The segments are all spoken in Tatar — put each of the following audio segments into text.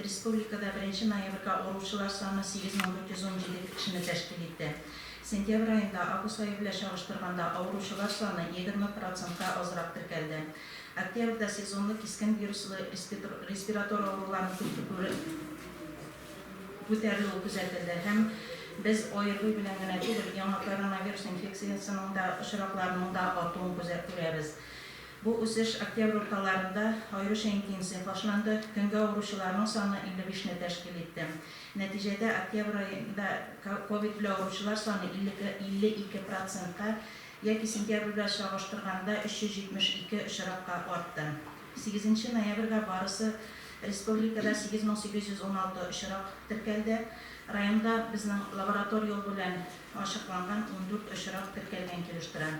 Республикада беренче ноябрьгә авыручылар саны 8417 кешене тәшкил итте. Сентябрь аенда август ае белән чагыштырганда авыручылар саны егерме процентка азрак теркәлде. Октябрьдә сезонлы кискен вируслы респиратор авыруларының күрсәтүе күтәрелүе күзәтелде һәм без ОРВИ белән генә түгел, яңа коронавирус инфекциясенең дә очракларының да артуын күзә күрәбез. Бу үсеш октябрь урталарында аеруча интенсив башланды, көнгә авыручыларның саны 55 не тәшкил итте. Нәтиҗәдә октябрь аенда ковид белән авыручылар саны 52 процентка яки сентябрь белән чагыштырганда 372 очракка артты. Сигезенче ноябрьгә барысы республикада 8816 очрак теркәлде, районда безнең лаборатор юл белән ачыкланган 14 очрак теркәлгән килеш тора.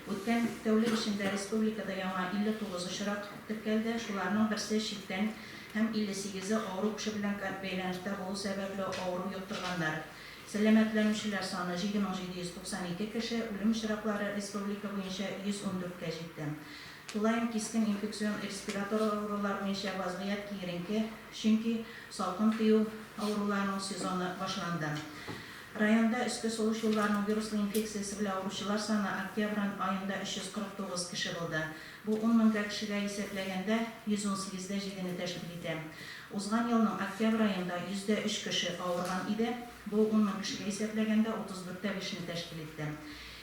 Үткән тәүлек эчендә республикада яңа 59 очрак теркәлде, шуларның берсе читтән һәм 58-е авыру кеше белән бәйләнештә булу сәбәпле авыру йоктырганнар. Сәламәтләнүчеләр саны 7 мең 792 кеше, үлем очраклары республика буенча 114 кә җитте. Тулаем кискен инфекцион респиратор авырулар буенча вазгыять киеренке, чөнки салкын тию авыруларының сезоны башланды. Районда өске сулыш юлларының вируслы инфекциясе белән авыручылар саны октябрь аенда 349 кеше булды. Бу ун мең га кешегә исәпләгәндә, 118 дә җидене тәшкил итә. Узган елның октябрь аенда йөздә өч кеше авырган иде, бу ун мең кешегә исәпләгәндә 34 тә бишне тәшкил итте.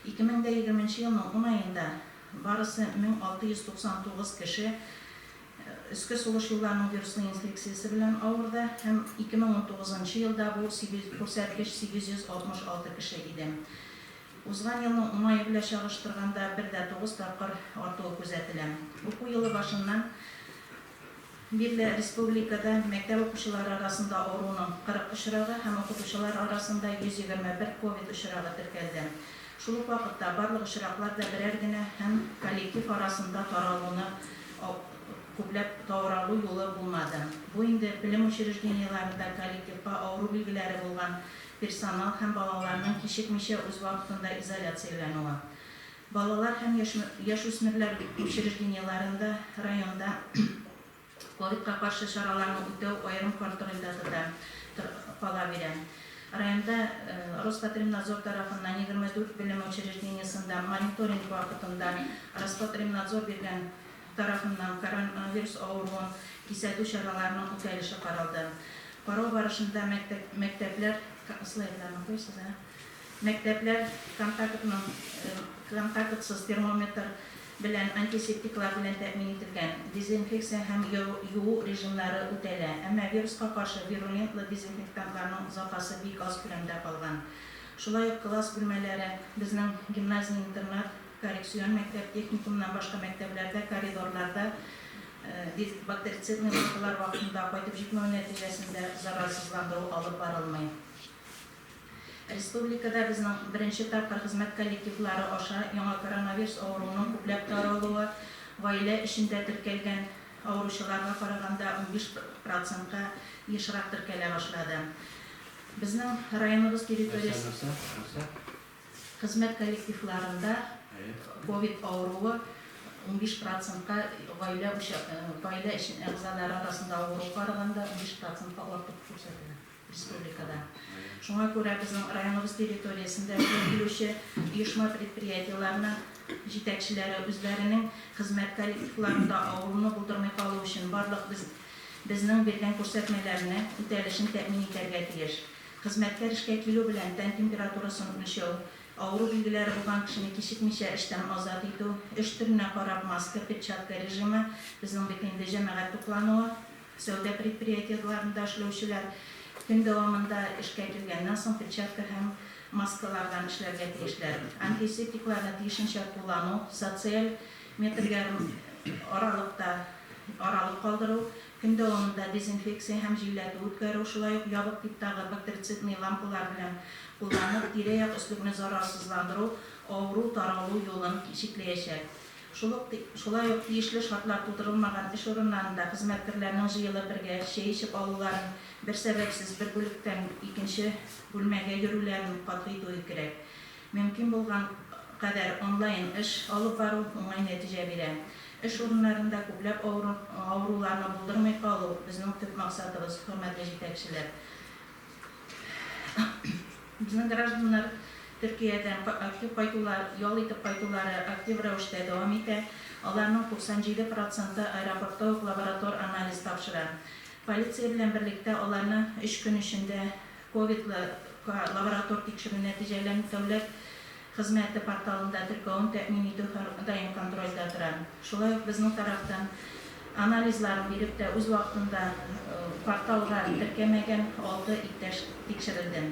Ике мең дә егерменче елның ун аенда барысы 1699 кеше, Өске сулыш юлларының вируслы инфекциясе белән авырды һәм 2019 нчы елда бу күрсәткеч 866 кеше иде. Узган елның уңае белән чагыштырганда бер дә тугыз тапкыр артуы күзәтелә. Уку елы башыннан бирле республикада мәктәп укучылары арасында авыруның 40 очрагы һәм укытучылар арасында 121 ковид очрагы теркәлде. Шул ук вакытта барлык очраклар да берәр генә һәм коллектив арасында таралуны күпләп тауралу юлы булмады. Бу инде белем учреждениеләрендә коллективка авыру билгеләре булган персонал һәм балаларның кичекмичә үз вакытында изоляцияләнүе. Балалар һәм яшьүсмерләр учреждениеләрендә районда, Ковидка каршы чараларны үтәү аерым контрольдә тота, кала бирә. Районда Роспотребнадзор тарафыннан егерме дүрт белем учреждениесендә мониторинг вакытында Роспотребнадзор биргән тарафыннан коронавирус авыруын кисәтү чараларының үтәлеше каралды. Карау барышында мәктәп мәктәпләр слайдларны куйсыз, ә? Мәктәпләр контактның контактсыз термометр белән, антисептиклар белән тәэмин ителгән, дезинфекция һәм юу режимнары үтәлә, әмма вируска каршы вирулентлы дезинфектантларның запасы бик аз күләмдә калган. Шулай ук класс бүлмәләре, безнең гимназия-интернат, коррекцион мәктәп, техникумнан башка мәктәбләрдә коридорларда бактерицидный маскалар вакытында кайтып җитмәү нәтиҗәсендә заразсызландыру алып барылмый. Республикада безнең беренче тапкыр хезмәт коллективлары аша яңа коронавирус авыруының күпләп таралуы, гаилә эчендә теркәлгән авыручыларга караганда унбиш процентка ешрак теркәлә башлады. Безнең районыбыз территориясе хезмәт коллективларында ковид авыруы унбиш процентка гаилә гаилә әгъзалары арасында авыру караганда унбиш процентка артык күрсәтелә. республикада. Шуңа күрә безнең районыбыз территориясендә эшкә килүче оешма-предприятиеләрнең җитәкчеләре үзләренең хезмәт коллективларында авыруны булдырмый калу өчен барлык без безнең биргән күрсәтмәләрне үтәлешен тәэмин итәргә тиеш. Хезмәткәр эшкә килү белән тән температурасын үлчәү, авыру билгеләре булган кешене кичекмичә эштән азат итү, эш төренә карап маска, перчатка режимы, безнең бит инде җәмәгать туклануы, Сәүдә предприятиеләрендә эшләүчеләр көн дәвамында эшкә килгәннән соң перчатка һәм маскалардан эшләргә тиешләр. Антисептикларны тиешенчә куллану, социаль метр ярым аралыкта аралык калдыру, көн дәвамында дезинфекция һәм җилләтү үткәрү, шулай ук ябык типтагы бактерицидный лампалар белән кулланып, тирә-як өслегне зарарсызландыру авыру таралу юлын чикләячәк. Шул ук, шулай ук тиешле шартлар тудырылмаган эш урыннарында хезмәткрләрнең җыелып бергә чәй эчеп алуларын, бер сәбәпсез бер бүлектән икенче бүлмәгә йөрүләрен катгый итү кирәк. Мөмкин булган кадәр онлайн эш алып бару уңай нәтиҗә бирә. Эш урыннарында күпләп авыру, авыруларны булдырмый калу, безнең төп максатыбыз, хөрмәтле җитәкчеләр. Безнең гражданнар Төркиядән актив кайтулар, ял итеп кайтулары актив рәвештә дәвам итә. Аларның 97 проценты аэропортта ук лаборатор анализ тапшыра. Полиция белән берлектә аларны өч көн эчендә ковидлы лаборатор тикшерү нәтиҗәләрен тәүләп, Хезмәте порталында теркәвен тәэмин итү һәрдаим контрольдә тора. Шулай ук безнең тарафтан анализларын биреп тә үз вакытында порталга теркәмәгән алты иптәш тикшерелде.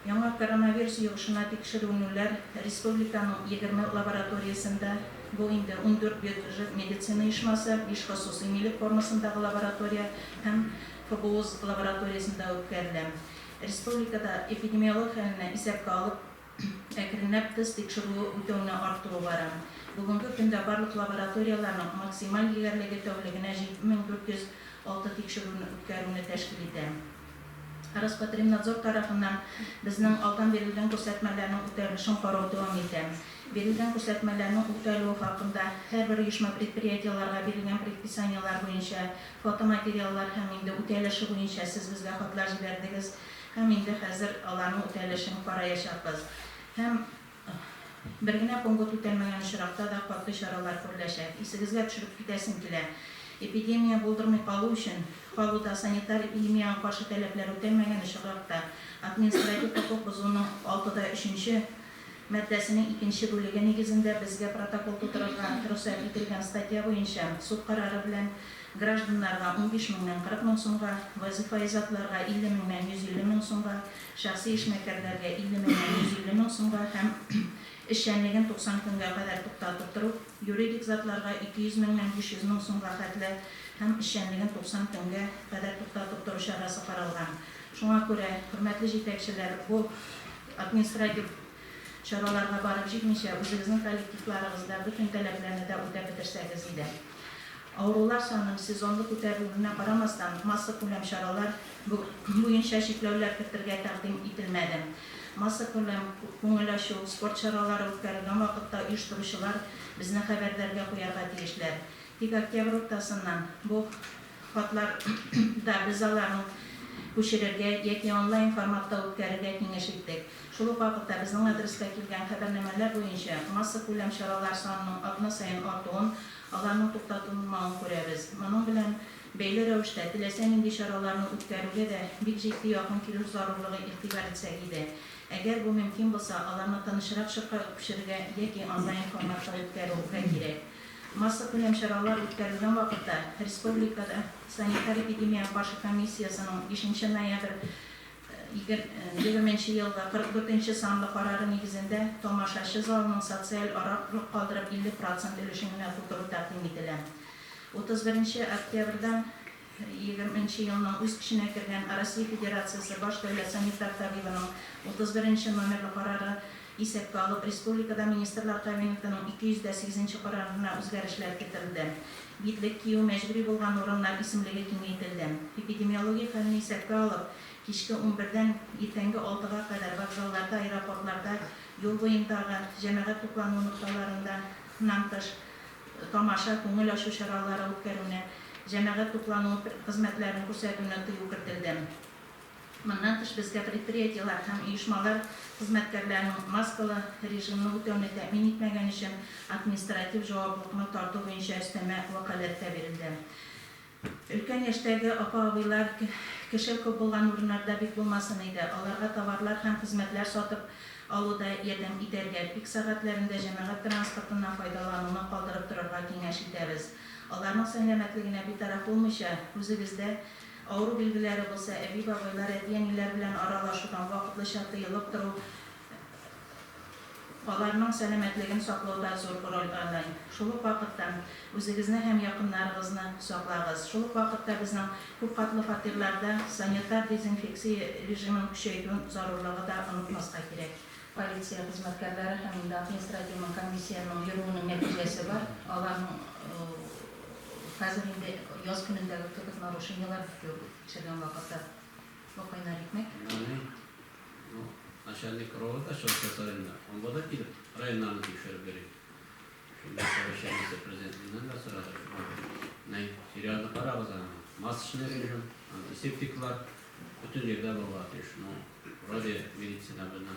Яңа коронавирус йогышына тикшеренүләр республиканың егерме лабораториясендә, бу инде ундүрт бюджет медицина оешмасы, биш хосусый милек формасындагы лаборатория һәм ФБУС лабораториясендә үткәрелә. Республикада эпидемиолог хәлне исәпкә алып, әкренләп тест тикшерүе үтәүне артуы бара. Бүгенге көндә барлык лабораторияләрнең максималь диярлеге тәүлегенә 7406 тикшерүне үткәрүне тәшкил итә. Роспотребнадзор тарафыннан безнең алдан бирелгән күрсәтмәләрнең үтәлешен карау дәвам итә. Бирелгән күрсәтмәләрнең үтәлүе хакында һәрбер оешма-предприятиеләргә бирелгән предписаниеләр буенча фотоматериаллар һәм инде үтәлеше буенча сез безгә хатлар җибәрдегез һәм инде хәзер аларның үтәлешен караячакбыз һәм бер генә пункт үтәлмәгән очракта да катгый чаралар күреләчәк. Исегезгә төшереп китәсем килә, эпидемия булдырмый калу өчен, калуда санитар-эпидемиягә каршы таләпләр үтәлмәгән очракта административ хокук бозуның алтыда өченче маддәсенең икенче бүлеге нигезендә безгә протокол тутырырга рөхсәт ителгән статья буенча суд карары белән гражданнарга унбиш меңнән кырык мең сумга, вазифаи затларга илле меңнән йөз илле мең сумга, шәхси эшмәкәрләргә илле меңнән йөз илле мең сумга һәм эшчәнлеген туксан көнгә кадәр туктатып тору, юридик затларга ике йөз меңнән биш йөз мең сумга хәтле һәм эшчәнлеген туксан көнгә кадәр туктатып тору чарасы каралган. Шуңа күрә, хөрмәтле җитәкчеләр, бу. Административ чараларга барып җитмичә, үзегезнең коллективларыгызда бөтен таләпләрне дә үтәп бетерсәгез иде. Авырулар санын сезонлы күтәрелүенә карамастан, массакүләм чаралар буенча чикләүләр кертергә тәкъдим ителмәде. Массакүләм күңел ачу, спорт чаралары үткәрелгән вакытта оештыручылар безне хәбәрдәргә куярга тиешләр. Тик октябрь уртасыннан бу Хатлар да без аларның күчерергә яки онлайн форматта үткәрергә киңәш иттек. Шул ук вакытта безнең адреска килгән хәбәрнамәләр буенча массакүләм чаралар санының атна саен артуын, аларның туктатылмавын күрәбез. Моның белән бәйле рәвештә теләсә нинди чараларны үткәрүгә дә бик җитди якын килү зарурлыгы игътибар итсәк иде. Әгәр бу мөмкин булса, аларны тынычрак чорга күчерергә яки онлайн форматта үткәрү гә кирәк. Массакүләм чаралар үткәрелгән вакытта республикада санитар-эпидемиягә каршы комиссиясенең бишенче ноябрь егерменче елгы 44 нче санлы карары нигезендә тамашачы залының социаль ара рык калдырып 50 процент өлешен генә тутыру тәкъдим ителә. 31 нче октябрьдән Егерме нче елның үз көченә кергән Россия Федерациясе Баш дәүләт санитар табибының 31 нче номерлы карары исәпкә алып, республикада Министрлар Кабинетының 208 нче карарына үзгәрешләр кертелде. Битлек кию мәҗбүри булган урыннар исемлеге киңәйтелде. Эпидемиологик хәлне исәпкә алып, кичке унбердән иртәнге алтыга кадәр вокзалларда, аэропортларда, юл буендагы җәмәгать туклану нокталарында нан тыш, тамаша, күңел ачу чаралары үткәрүне, җәмәгать туплануы хезмәтләрен күрсәтүне тыю кертелде. Моннан тыш, безгә предприятиеләр һәм оешмалар хезмәткәрләренең маскалы режимны үтәүне тәэмин итмәгән өчен административ җаваплылыкны тарту буенча өстәмә вәкаләт тә бирелде. Өлкән яшьтәге апа-абыйлар кеше күп булган урыннарда бик булмасын иде, аларга товарлар һәм хезмәтләр сатып алуда ярдәм итәргә, пик сәгатьләрендә җәмәгать транспортыннан файдалануны калдырып торырга киңәш итәбез. Аларның сәнләмәтлегенә битараф булмыйча, үзегездә авыру билгеләре булса, әби-бабайлар, әти-әниләр белән аралашудан вакытлыча тыелып тору Аларның сәламәтлеген саклауда зур роль аный. Шул ук вакытта, үзегезне һәм якыннарыгызны саклагыз. Шул ук вакытта безнең күпкатлы фатирларда санитар дезинфекция режимын көчәйтү зарурлыгы да онытмаска кирәк. Полиция хезмәткәрләре һәм инде административный комиссиянең йөрүенең нәтиҗәсе бар. Аларның хәзер инде яз көнендәге кебек нарушениеләр бик юк, тикшергән вакыты. Бу кайнар икмәк. Менә бу начальник провода чыгыш районда. Анда да килеп, районнарны тикшереп йөри. Шунда совещание президентыннан да сорады. Менә сериалны карагыз аны. Масочный режим, антисептиклар бөтен җирдә булырга тиеш. Ну, вроде медицина белән.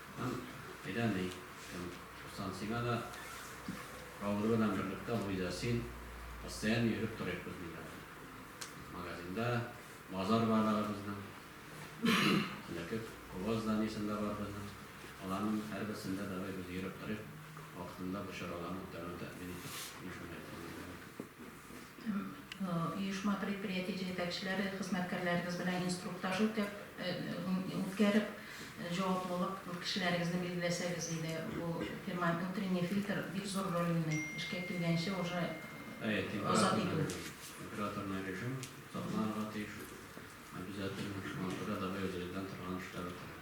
Һәм әйдә ни, кем ошасын сиңа да, Рауль белән берлектә Луиза син, постоянно йөреп торыйк без, диләр. Магазинда базар бар ары безнең. Элекке куба зданиесен дә бар безнең. Аларның һәрберсендә давай без йөреп торыйк, вакытында бу чараларны үткәрүне тәэмин итик, дип мөмкинлекләр бирәләр. Оешма, предприятие җитәкчеләре хезмәткәрләрегез белән инструктаж үткәреп, җаваплылык кешеләрегезне билгеләсәгез иде. Бу фирма утренний фильтр бик зур роль уйный. Эшкә килгәнче уже азат итү. Температурный режим сакланырга тиеш обязательно. Шуңа күрә давай үзебездән торган эшләр үткәрәбез.